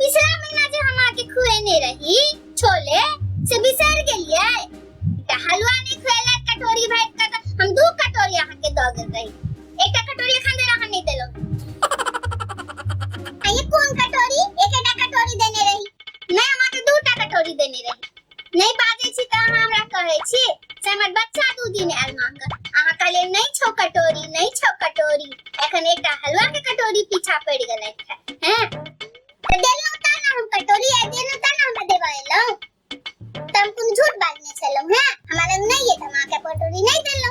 पिछला महीना जे हम आके खुएने रही छोले से बिसर गेलिए त हलवा नहीं खुएला कटोरी भाई का त हम दू कटोरी आहा के द गेल रही एकटा कटोरी खान दे रहा नहीं देलो आ ये कौन कटोरी एक एकटा कटोरी देने रही मैं हम आके दू टा कटोरी देने रही नहीं बाजे छी त अहाँ हमरा कहे छी से हमर बच्चा दू दिन आयल मांग अहाँ कहले नहीं छो कटोरी नहीं छो कटोरी एखन एकटा हलवा के कटोरी पीछा पड़ गेल हैं त देलो त ना हम कटोरी आ देलो त ना हम देबा एलो त हम कुन झूठ बाजने छलो हैं हमरा लग नहीं है त मां के कटोरी नहीं देलो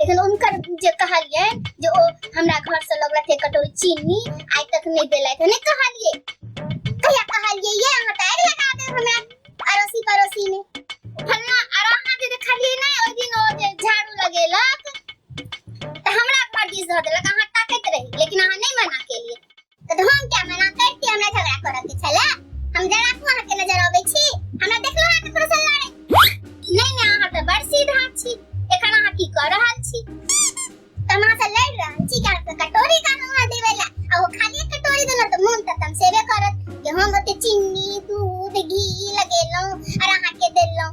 लेकिन उनकर जे कहलिए जे ओ हमरा घर से लगलक एक कटोरी चीनी आइ तक नहीं देला तो नहीं कहलिए कहिया कहलिए ये अहाँ टायर लगा दे हमरा अड़ोसी पड़ोसी ने फलना अरे अहाँ जे देखलिए ना ओइ दिन ओ जे झाड़ू लगेलक त हमरा पर दिस धऽ देलक अहाँ ताकैत रही लेकिन अहाँ नहीं मना केलिए तऽ हम क्या मना करती हमरा झगड़ा करऽ के छला हम जरा को अहाँ के नजर अबै छी हमरा देखलो अहाँ ककरो से लड़े नहीं नहीं अहाँ तऽ बड़ सीधा छी एखन अहाँ की कऽ रहल छी तऽ हम अहाँ से लड़ रहल छी कि अहाँ कटोरी कानो अहाँ देबै ला आ ओ खाली कटोरी देलहुँ तऽ मोन तऽ तमसेबे करत कि हम ओते चीनी दूध घी लगेलहुँ आर अहाँ के देलहुँ